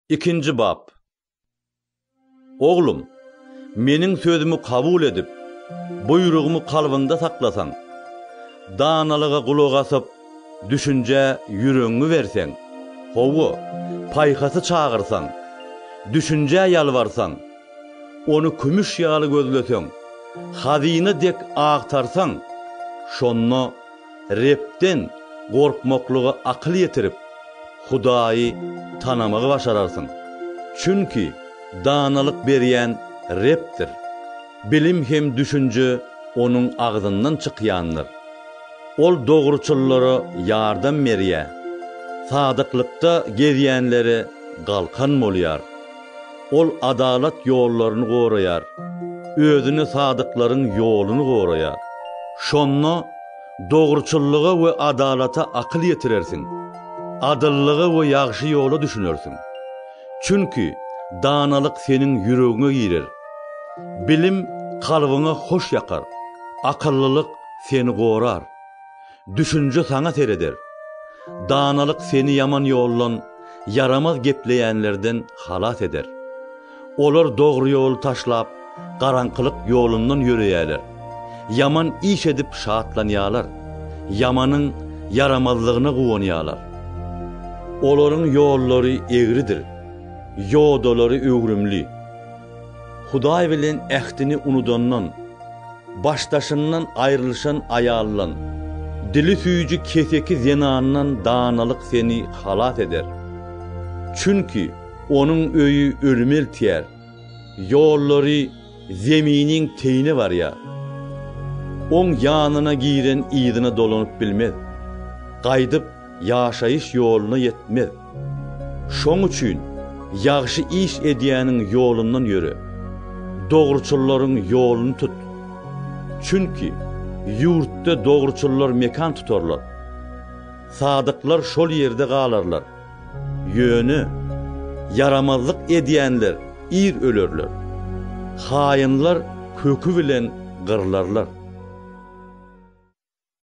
Ikinji bap. Oglum, Meniň sözümi kabul edip, buýrugymy kalbyňda saklasaň, danalyga gulak asyp, düşünjä ýüregiňi berseň, hawa, paýhasy çagyrsaň, düşünjä ýalbarsaň, ony kümüş ýaly gözleseň, hazyna dek agtarsaň, şonda Rebden gorkmaklyga akyl ýetirip, Hudaýy tanamagy başararsyň. Çünki danalyk berýän Rebdir. Bilim hem düşünje Onuň agzyndan çykýandyr. Ol dogruçyllara ýardam berýär, sadyklykda gezýänlere galkan bolýar. Ol adalat ýollaryny goraýar, özüne sadyklaryň ýoluny goraýar. Şonda dogruçyllyga we adalata akyl ýetirersiň, adyllyga we ýagşy ýola düşünersiň. Çünki danalyk seniň ýüregiňe girer, bilim kalbyňa hoş ýakar, akyllylyk seni gorar. Düşünje saňa sereder. Danalyk seni ýaman ýoldan, ýaramaz gepleýänlerden halas eder. Olar dogry ýoly taşlap, garaňkylyk ýolundan ýöreýärler. Ýaman iş edip şatlanýarlar, ýamanyň ýaramazlygyna guwanýarlar. Olaryň ýollary egridir, ýodalary öwrümli. Hudaý bilen ähtini unudandan, başdaşyndan aýrylyşan aýaldan, dili süýji keseki zenandan danalyk seni halas eder. Çünki onuň öýi ölüme eltýär, ýollary zeminiň teýine barýar. Oň ýanyna giren yzyna dolanyp bilmez, gaýdyp ýaşaýyş ýoluna ýetmez. Şoň üçin ýagşy iş edýäniň ýolundan ýöre, dogruçyllaryň ýoluny tut. Çünki ýurtda dogruçyllar mekan tutarlar. Sadyklar şol ýerde galarlar. Ýöne ýaramazlyk edýänler ir ölerler. Haýynlar köki bilen gyrlarlar.